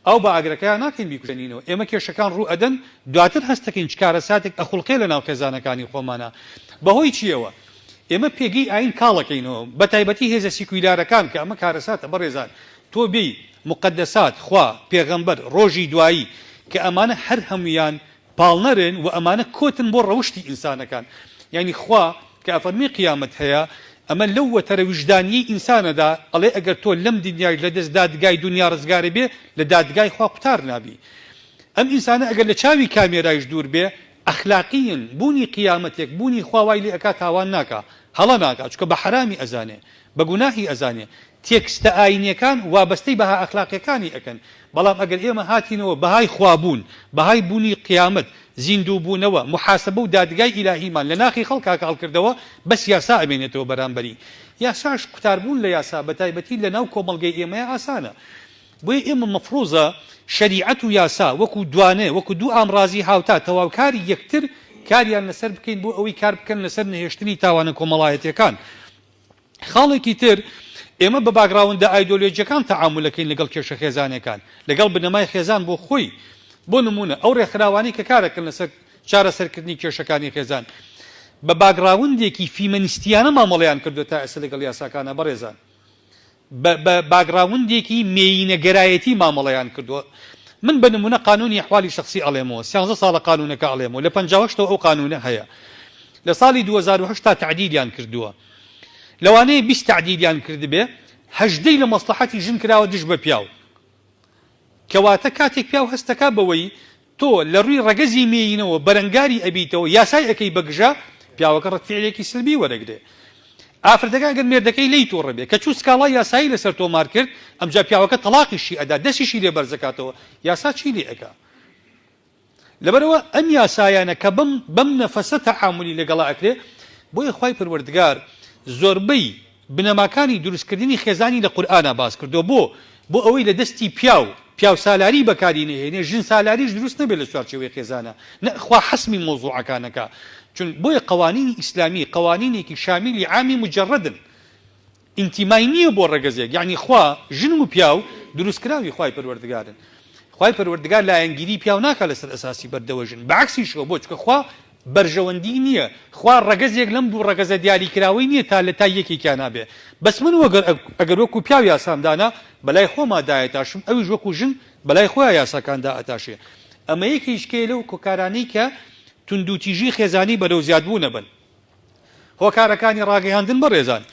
ئاو بە ئاگرەکەیا ناکەین بیکوژێنینەوە، ئێمە کێشەکان ڕوو ئەدەن دواتر هەست دەکەین چ کارەساتێک ئەخوڵقێ لە ناو خێزانەکانی خۆمانا بە هۆی چییەوە؟ ئێمە پێگەی ئایین کاڵ ئەکەینەوە بە تایبەتی هێزە سیکویلارەکان کە ئەمە کارەساتە بەڕێزان تۆ بێی موقەدەسات، خوا، پێغەمبەر، ڕۆژی دوایی کە ئەمانە هەر هەموویان پاڵنەرن وە ئەمانە کۆتن بۆ ڕەوشتی ئینسانەکان یانی خوا کە ئەفەرموێ قیامەت هەیە ئەمە لەو وەتەرە ویژدانیەی ئینسانەدا ئەڵێ ئەگەر تۆ لەم دنیاش لەدەست دادگای دنیا ڕزگاری بێ لە دادگای خوا قوتار نابی ئەم ئینسانە ئەگەر لە چاوی کامێرایش دوور بێ ئەخلاقیین بوونی قیامەتێک بوونی خوا وای لێ ئەکا تاوان ناکا هەڵە ناکا چونکە بە حەرامی ئەزانێ بە گوناحی ئەزانێ تێکستە ئایینیەکان وابەستەی بەها ئەخلاقیەکانی ئەکەن بەڵام ئەگەر ئێمە هاتینەوە بەهای خوا بوون بەهای بوونی قیامەت زیندوو بوونەوە محاسەبە و دادگای ئیلاهیمان لە ناخی خەڵکا کاڵ کردەوە بەس یاسا ئەمێنێتەوە بەرامبەری یاساش قوتار بوون لە یاسا بە تایبەتی لە ناو کۆمەڵگەی ئێمەیا ئاسانە بۆیە ئێمە مەفروزە شەریعەت و یاسا وەکو دوانێ وەکو دوو ئامڕازی هاوتا تەواوکاری یەکتر کاریان لەسەر بکەین بۆ ئەوەی کار بکەن لەسەر نەهێشتنی تاوانە کۆمەڵایەتیەکان خاڵێکی تر، ئێمە بە باگڕاوندە ئایدۆلۆجیەکان تەعامولەکەین لەگەڵ کێشە خێزانیەکان، لەگەڵ بنەمای خێزان بۆ خۆی، بۆ نمونە ئەو ڕێکخراوانەی کە کارەکەن لەسەر چارەسەرکردنی کێشەکانی خێزان بە باگڕاوندێکی فیمەنیستیانە مامەڵەیان کردوە تا ئێستا لەگەڵ یاساکانا بەڕێزان بە باگڕاوندێکی مێیینەگەرایەتی مامەڵەیان کردووە. من بە نموونە قانوونی ئەحوالی شەخسی ئەڵێمەوە، سیانزە ساڵە قانوونەکە ئەڵێم و لە پەنجا و هەشتەوە ئەو قانوونە هەیە. لە ساڵی دوو هەزار و هەشت تا تەعدیلیان کردووە. لەوانەیە بیست تەعدیلیان کردبێ، هەژدەی لە مەسڵەحەتی ژن کراوە دژ بە پیاو. کەواتە کاتێک پیاو هەست دەکا بەوەی تۆ لە ڕووی ڕەگەزی مێیینەوە بەرەنگاری ئەبیتەوە یاسای ئەکەی بە گژە پیاوەکە ڕەت فیعلێکی سلبی وەرەگرێ ئافرەتەکە ئەگەر مێردەکەی لێی توڕە بێ کە چوو سکاڵای یاسایی لەسەر تۆمار کرد ئەمجا پیاوەکە تەڵاقیشی ئەدا دەستیشی لێ بەرز ئەکاتەوە یاسا چی لێ ئەکا لەبەرئەوە ئەم یاسایانە کە بەم بەم نەفەسە تەعامولی لەگەڵا ئەکرێ بۆیە خوای پەروەردگار زۆربەی بنەماکانی دروستکردنی خێزانی لە قورئانا باس کردووە بۆ؟ بۆ ئەوەی لە دەستی پیاو پیاوسالاری بەکاری نەهێنێ ژن سالاریش دروست نەبێ لە چوارچێوەی خێزانا نە خوا حەسمی مەوزوعەکان ئەکا چون بۆیە قەوانینی ئیسلامی قەوانینێکی شامیلی عامی موجەڕەدن ئینتیمای نییە بۆ ڕەگەزێک یەعنی خوا ژن و پیاو دروستکراوی خوای پەروەردگارن خوای پەروەردگار لایەنگیری پیاو ناکا لەسەر ئەساسی بەردەوە ژن بەعەکسیشەوە بۆچکە خوا بەرژەوەندی نیە خوا ڕەگەزێک لەم دوو ڕەگەزە دیاری کراوەی نیە تا لە تای یەکێکیانا بێ بەس من وەگەر ئەگەر وەکو پیاو یاسام دانا بەلای خۆما دایەتاشم ئەویش وەکو ژن بەلای خۆیا یاساکان دائەتاشێ ئەمەیەکیشکەیە لەو کارانەی کە توندوتیژی خێزانی بەرەو زیادبوونە بەن هۆکارەکانی ڕاگەیاندن بەڕێزان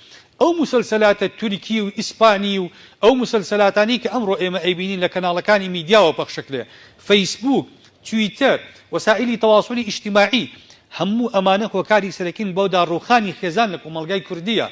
ئەو موسەلسەلاتە تورکی و ئیسپانی و ئەو موسەلسەلاتانەی کە ئەمڕۆ ئێمە ئەیبینین لە کەناڵەکانی میدیاوە پەخشەکرێ فەیسبووک تویتەر وەسائیلی تەواسولی ئیجتماعی هەموو ئەمانە هۆکاری سەرەکین بۆ داڕووخانی خێزان لە کۆمەڵگای کوردیە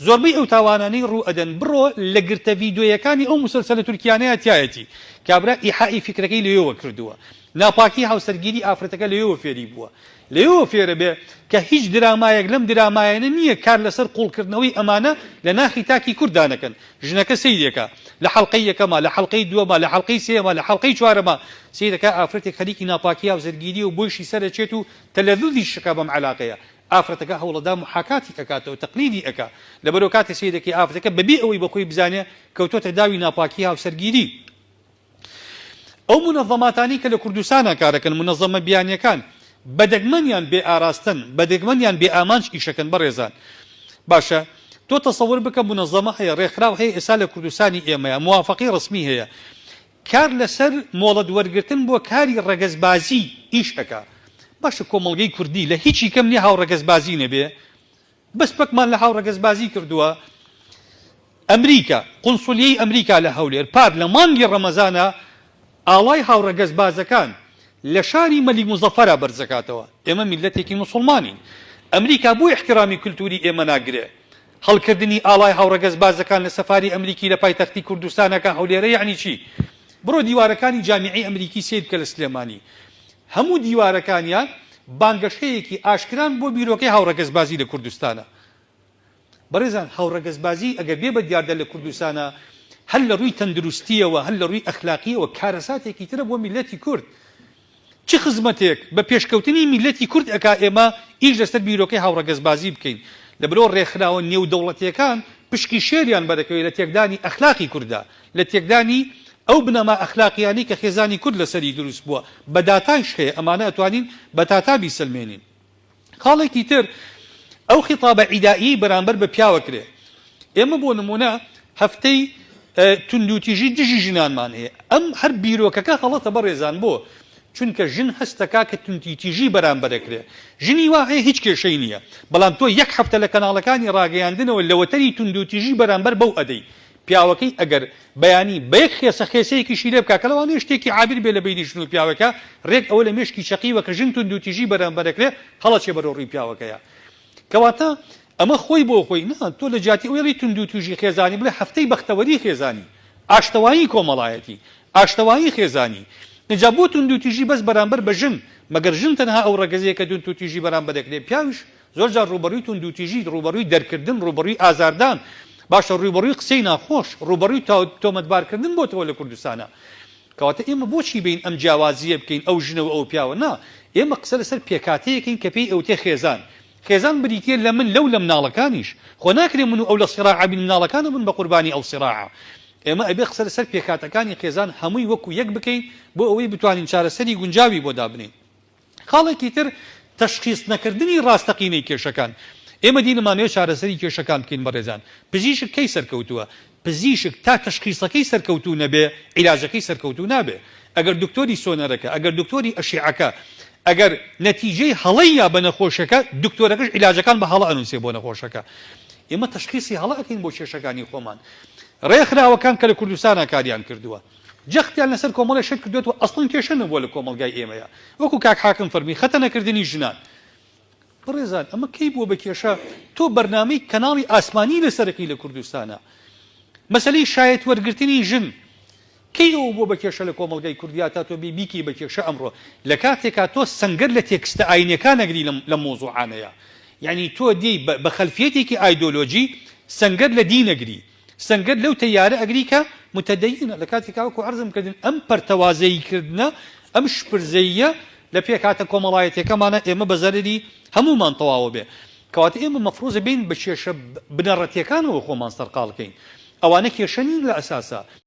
زۆربەی ئەو تاوانانەی ڕوو ئەدەن بڕۆ لە گرتە ڤیدۆیەکانی ئەو موسەلسەلە تورکیانەیا تیایەتی کابرا ئیحائی فیکرەکەی لەوێوە کردووە ناپاکی هاوسەرگیری ئافرەتەکە لەوێوە فێری بووە لێیەوە فێرە بێ کە هیچ درامایەک لەم درامایانە نییە کار لەسەر قووڵکردنەوەی ئەمانە لە ناخی تاکی کورددا نەکەن. ژنەکە سەیری ئەکا. لە حەڵقەی یەکەما، لە حەڵقەی دووەما، لە حەڵقەی سێیەما، لە حەڵقەی چوارەما سەیر ئەکا ئافرەتێک خەریکی ناپاکی هاوسەرگیرییە و بۆیشی سەر ئەچێت و تەلەزوزیش ئەکا بەم عەلاقەیە. ئافرەتەکە هەوڵئەدا موحاکاتی ئەکاتەوە، تەقلیدی ئەکا. لەبەرئەوە کاتێ سەیر ئەکەی ئافرەتەکە بەبێ ئەوەی بەخۆی بزانێ کەوتۆتە داوی ناپاکی هاوسەرگیری. ئەو مونەزەماتانەی کە لە کوردستانا کارەکەن، مونەزەمە بیانیەکان، بە دەگمەن یان بێ ئاراستەن، بە دەگمەن یان بێ ئامانج ئیشەکەن بەڕێزان. باشە تۆ تەسەور بکە مونەزەمە هەیە، ڕێکخراو هەیە ئێستا لە کوردستانی ئێمەیا موافەقەی ڕەسمی هەیە کار لە سەر مۆڵەت وەرگرتن بۆ کاری ڕەگەزبازی ئیش ئەکا. باشە کۆمەڵگەی کوردی لە هیچی کەم نیە هاوڕەگەزبازی نەبێ؟ بەس پەکمان لە هاوڕەگەزبازی کردووە ئەمریکا، قونسولیەی ئەمریکا لە هەولێر پار لە مانگی ڕەمەزانە ئاڵای هاوڕەگەزبازەکان لە شاری مەلیک موزەفەرا بەرزەکاتەوە، ئێمە میللەتێکی موسوڵمانین ئەمریکا بۆ ئیحترامی کلتوری ئێمە ناگرێ، هەڵکردنی ئاڵای هاوڕەگەزبازەکان لە سەفاری ئەمریکی لە پایتەختی کوردستانەکە هەولێرە یەعنی چی؟ بڕۆ دیوارەکانی جامیعەی ئەمریکی سەیر بکە لە سلێمانی هەموو دیوارەکانیان بانگەشەیەکی ئاشکران بۆ بیرۆکەی هاوڕەگەزبازی لە کوردستانا. بەڕێزان هاوڕەگەزبازی ئەگەر بێ بە دیاردە لە کوردستانا هەر لە ڕووی تەندروستییەوە هەر لە ڕووی ئەخلاقییەوە کارەساتێکی ترە بۆ میللەتی کورد. چ خزمەتێک بە پێشکەوتنی میللەتی کورد ئەکا ئێمە ئیش لەسەر بیرۆکەی هاوڕەگەزبازی بکەین لەبەرئەوە ڕێکخراوە نێودەوڵەتییەکان پشکی شێریان بەرەکەوێ لە تێکدانی ئەخلاقی کوردا لە تێکدانی ئەو بنەما ئەخلاقیانەی کە خێزانی کورد لەسەری دروست بووە، بە داتایش هەیە، ئەمانە ئەتوانین بە تاتا بیسەلمێنین. خاڵێکی تر ئەو خیتابە عیدائیەی بەرامبەر بە پیاوە کرێ. ئێمە بۆ نموونە هەفتەی توندوتیژی دژی ژنانمان هەیە. ئەم هەر بیرۆکەکە غەڵەتە بەڕێزان بۆ؟ چونکە ژن هەست دەکا کە توندیتیژی بەرامبەر ئەکرێ. ژنی وا هەیە هیچ کێشەی نییە. بەڵام تۆ یەک هەفتە لە کەناڵەکانی ڕاگەیاندنەوە لەوەتەری توندوتیژی بەرامبەر بەو ئەدەی. پیاوەکەی ئەگەر بەیانی بە یەک خێسە خێسەیەکیشی لێ بکا کە لەوانەیە شتێکی عابیر بێ لە بەینی ژن و پیاوەکە، رێک ئەوە لە مێشکی چەقیوە کە ژن توندوتیژی بەرانبەر ئەکرێ هەڵەچێ بەرەو رووی پیاوەکەیا. کەواتە ئەمە خۆی بۆ خۆی نا، تۆ لە جیاتی ئەوەی ئەڵێی توندوتیژی خێزانی بڵێ هەفتەی بەختەوەری خێزانی، ئاشتەوایی کۆمەڵایەتی، ئاشتەوایی خێزانی. ئینجا بۆ توندوتیژی بەس بەرانبەر بە ژن؟ مەگەر ژن تەنها ئەو رەگەزەیە کە توندوتیژی بەرانبەر ئەکرێ؟ پیاویش زۆر جار ڕووبەڕووی توندوتیژی، ڕووبەڕووی دەرکردن، ڕووبەڕووی ئازاردان، باشە ڕووبەڕووی قسەی ناخۆش، ڕووبەڕووی تۆمەتبارکردن بۆتەوە لە کوردستانا. کەواتە ئێمە بۆچی بێین ئەم جیاوازییە بکەین ئەو ژنە و ئەو پیاوە؟ نا، ئێمە قسە لەسەر پێکهاتەیەک کەین کە پێی ئەوتێ خێزان. خێزان بریتییە لە من، لەو، لە مناڵەکانیش. خۆ ناکرێ من و ئەو لە سیراع بین، مناڵەکانە بن بە قوربانی ئەو سیراعە. ئێمە ئەبێ قسە لەسەر پێکهاتەکانی خێزان هەمووی وەکو یەک بکەین بۆ ئەوەی بتوانین چارەسەری گونجاوی بۆ دابنێین. خاڵێکی تر تەشخیس نەکردنی ڕاستەقینەی کێشەکان. ئێمە دین ئەمانەوێت چارەسەری کێشەکان بکەین بەڕێزان. پزیشک کەی سەرکەوتووە؟ پزیشک تا تەشخیسەکەی سەرکەوتوو نەبێ عیلاجەکەی سەرکەوتوو نابێ. ئەگەر دکتۆری سۆنەرەکە، ئەگەر دکتۆری ئەشیعەکە، ئەگەر نەتیجەی هەڵەیە بە نەخۆشەکە، دکتۆرەکەش عیلاجەکان بە هەڵە ئەنووسێ بۆ نەخۆشەکە. ئێمە تەشخیسی هەڵە ئەکەین بۆ کێشەکانی خۆمان. ڕێکخراوەکان کە لە کوردستانا کاریان کردووە. جەختیان لەسەر کۆمەڵێ شت کردۆتەوە ئەسڵەن کێشە نەبووە لە کۆمەڵگای ئێمەیا وەکو کاک حاکم فەرمی خەتەنە کردنی ژنان بەڕێزان ئەمە کەی بووە بە کێشە تۆ بەرنامەی کەناڵی ئاسمانی لەسەرەکەی لە کوردستانە مەسەلی شایەت وەرگرتنی ژن کەی ئەوە بووە بە کێشە لە کۆمەڵگای کوردیا تا تۆ بی بیکی بە کێشە ئەمڕۆ لە کاتێکا تۆ سەنگەر لە تێکستە ئاینەکان نەگری لە مۆزوعانەیە یعنی تۆ دی بە خەلفیەتێکی ئایدۆلۆژی سەنگەر لە دینەگری سەنگەر لەو تەیارە ئەگری کە متدینە لەکاتی کە وەکو عەرزم کردن ئەم پەرتەوازەیی کردنە ئەم شپرزەییە لە پێکهاتە کۆمەڵایەتیەکەمانە ئێمە بە زەرەری هەموومان تەواوە بێ کەواتە ئێمە مەفروزە بێین بە کێشە بنەڕەتیەکانەوە خۆمان سەرقاڵ کەین ئەوانە کێشە نین لە ئەساسا